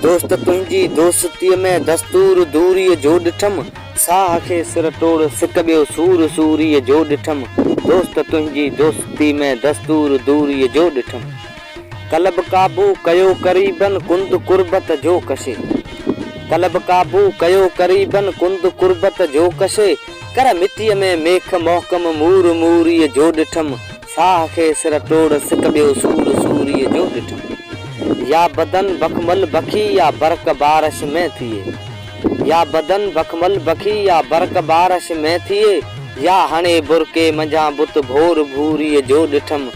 دوست تنهنجي دوستيء ۾ دستور دوريء جو ڏٺم. ساهه کي سر ٽوڙ سڪ ٻيو سور سوريء جو ڏٺم. دوست تنهنجي دوستيء ۾ دستور دوريء جو ڏٺم. قلب قابو ڪيو قريبن ڪند قربت جو ڪشي. قلب قابو ڪيو قريبن ڪند قربت جو ڪشي. ڪر مٽيء ۾ ميخ محڪم مور موريء جو ڏٺم. ساهه کي سر ٽوڙ سڪ ٻيو سور سوريء جو ڏٺم. يا بدن بخمل بخي يا برق بارش ۾ ٿئي. يا بدن بخمل بخي يا برق بارش ۾ ٿئي. يا هڻي برقعي منجهان بت ڀور ڀوريء جو ڏٺم.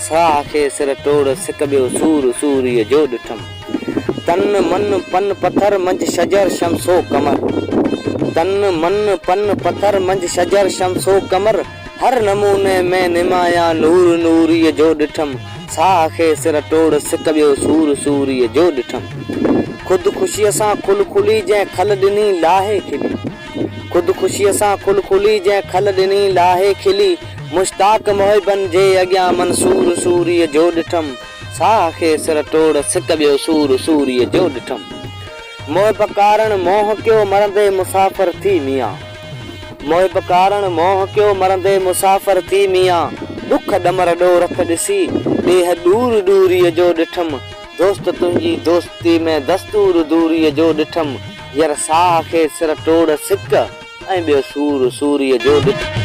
ساهه کي سر ٽوڙ سڪ ٻيو سور سوريء جو ڏٺم. تن من پن پٿر منجهه شجر شمس و قمر. تن من پن پٿر منجهه شجر شمس و قمر. هر نموني ۾ نمايان نور نوريء جو ڏٺم، ساهه کي سر ٽوڙ سڪ ٻيو سور سوريء جو ڏٺم. خود خوشيء سان کل کلي جنهن کل ڏني لاهي کلي. خود خوشيء سان کل کلي جنهن کل ڏني لاهي کلي. مشتاق محبن جي اڳيان منصور سوريء جو ڏٺم، ساهه کي سر ٽوڙ سڪ ٻيو سور سوريء جو ڏٺم. محب ڪارڻ منهن ڪيو مرندي مسافر ٿي ميان. محب ڪارڻ موهه ڪيو مرندي مسافر ٿي ميان ڏک ڏمر ڏو رک ڏسي ڏيهه ڏور ڏوريء جو ڏٺم دوست تنهنجي دوستي ۾ دستور دوريء جو ڏٺم هير ساهه کي سر ٽوڙ سڪ ۽ ٻيو سور سوريء جو ڏٺم.